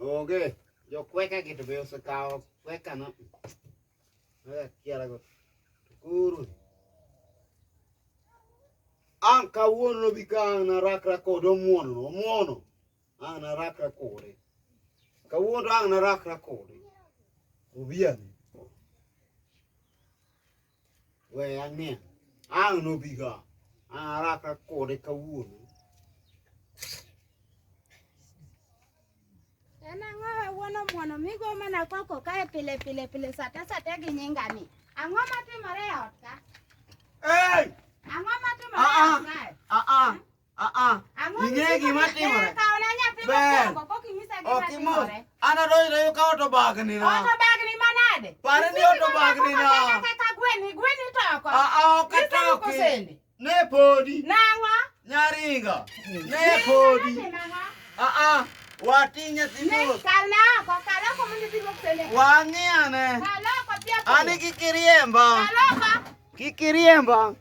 Onge. Jo kweka gi to be osekawo kweka no. Aya kiara go. Kuru. An kawuono bi ka an arakra kod omuono, omuono. An arakra kode. Kawuono an arakra kode. Obiani. we ang'e ang' nobiga ang' araka kode kawuono en ang'o wuono muono migo mana koko kae pile pile pile sate sate gi nyingani ang'o matimore e ot ka ang'o matimore e ot kae Ing'e gima timore. Ber. Ok imos. An adonjo to yuka oto bagni na. Oto bagni manade? Pare ni oto bagni na. Kaka gweni, gweni toko. Aa, ok itoki. Ne podi. Nang'o? Nyaringa. Ne podi. Aa, watinye thimos. Kala oko, kala oko mondo idhi gosene. Wang'iyane. Kala oko pia. Ani kikiriemba. Kala oko. Kikiriemba.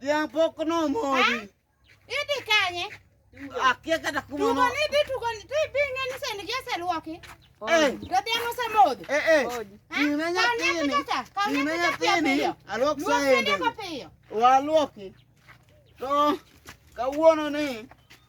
Dhiang' pok nomodhi. Idhi kanye? Akia kata kuma Tugo ni dhi tugo ni to ibi ng'e ni sani gi oseluoki. Eh, To dhiang' osemodho. eh, eh. Gine nyathini. Gine nyathini. Alwok saende. Waluoki. To kawuono ni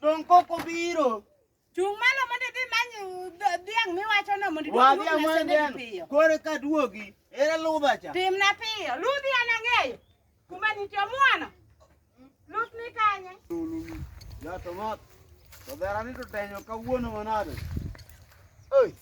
Dong koko biro. Chung' malo mondo idhi many uh, dhiang' miwachono mondo idhi Wadhi duog amony nasende piyo. den. Kore ka duogi. Ere ludha cha. Timna piyo. Ludhi an ang'eyo. Kuma nitie omwono. Luth ni kanye. Jato mot. To dherani to tenyo kawuono manade. Oi.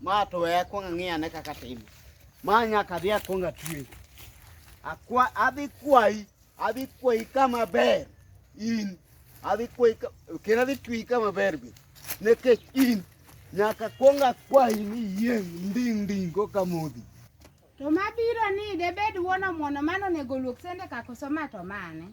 Ma to we akwong ang'i ane kaka timo. Ma nyaka adhi akwong atwe. Akwa adhi kwayi, adhi kwayi kama ber in. Adhi kwayi ka- kendo adhi twi kama ber be. Nikech in nyaka kwong akwayi ni iyieng' nding' nding' koka modhi. To mabiro ni debed wuon omuono mano onego luok sende ka koso ma to mane?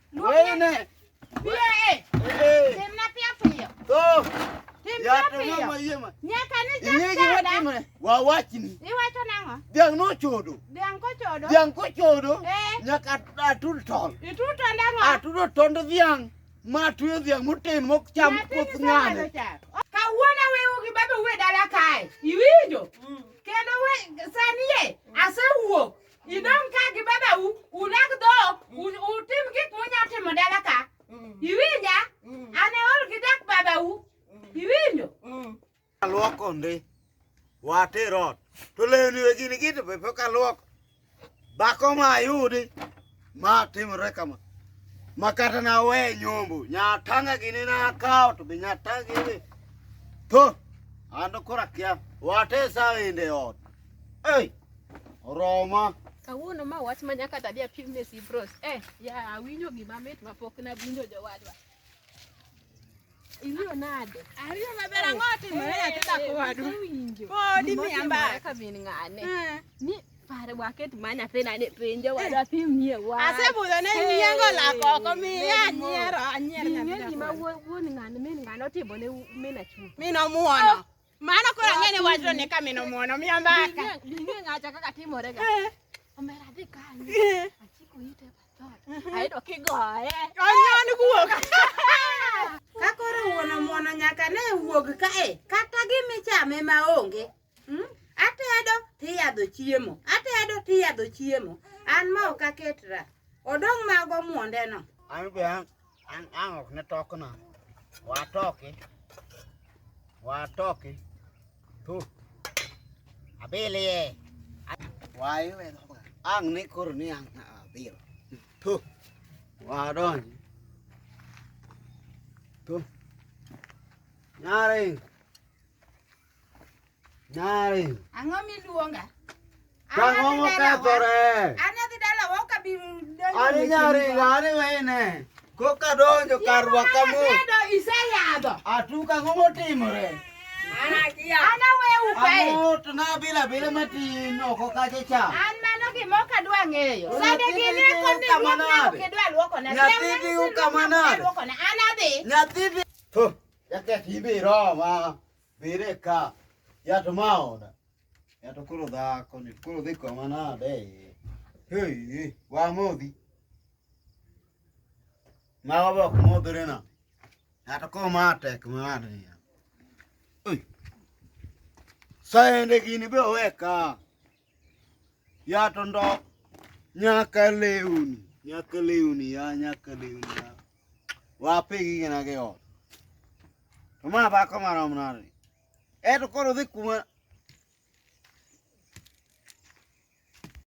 Dhiang' nochodo. Dhiang' kochodo. Dhiang' kochodo. Eh. Nyaka atud tol. Itud tol ang'o? Atudo tond dhiang' ma tuyo dhiang' moten mok cham koth ng'ane. Kawuono wewu gi baba uwe dala kae. Iwinjo? Mm. Kendo we sani ye asewuok. Idong' ka gi babau, ulag dhok, u- utim gik munya timo dala ka. Iwinja? An aol gi dak babau. Iwinjo? Aluoko ndi. Water ot. To lewni we gini gito be pok aluoko. Dhako ma ayudi ma timre kama. Ma kata na we nyombo. Nyatanga gini na akawo to be nyatanga gini. To. Ando kora kia. Wate sa inde ot. Hey. Oroma. Kawuono ma wach ma nyaka tadi apim ne Sibros. Eh, ya awinjo gima mit ma pok na winjo jowadwa. Iwinjo nade? Ariyo maber ang'o timore ati dhako wadu? Awinjo. Podi mi Gima amba. timore ka min ng'ane. Eh. Ni pare waket ma nyathina ni penjo wadwa pim nie wach. Asebudho ne nyiengo lako oko miya anyiero anyier Ing'e nyathi gima dhako. wuon wuon ng'ane min ng'ane otimo ne min achuo. Mi nomuono. Mano koro ang'e ni wachno ni kamino muono miya mbaka. Dinge ng'acha kaka timore ga. Eh. Omera dhi kanyo. Eh. Achiko ite patot. Eh. Ayudo kigoye. Onyon guok. Ka koro wuono muono nyaka ne wuog kae kata gimichame ma onge. Hmm? Atedo tiyadho chiemo. Atedo tiyadho chiemo. An ma ok aketra. Odong' mago muondeno. An be an Ang ang ok na tok na. Wa tok eh. Wa tok eh. Tu. Abele ye. Wa ye we tok. Ang ni kur ni ang na abir. Tu. Wa don. Tu. Nyaring. Nyari. Ang'o miluonga? Ang'o mokethore? An adhi dala wa ok abi donjo. Ani nyari gani wene. Koka donjo kar rwaka mo. Iseyadho. Atuka ang'o motimore? Ana wewu kae. Ang'o to na bila bila matin oko kacha cha. An mano gima ok adwa ng'eyo. Sande gini eko ni ruok na ok idwa luoko na. Nyathi bi ukamanade. An adhi. Nyathi bi. Jaketh ibiro ma. Bireka. Ya to maona. Ya to koro dhako ni koro dhi kwa manade. Hey, wa modhi. Ma wa bok modhre na. Ya to koro ma tek ma ni. Oi. Saende gini be oweka. ya to ndok nyaka lewni nyaka lewni ya nyaka lewni ya wape gigena gi ot to ma dhako marom nade eto koro dhi kuma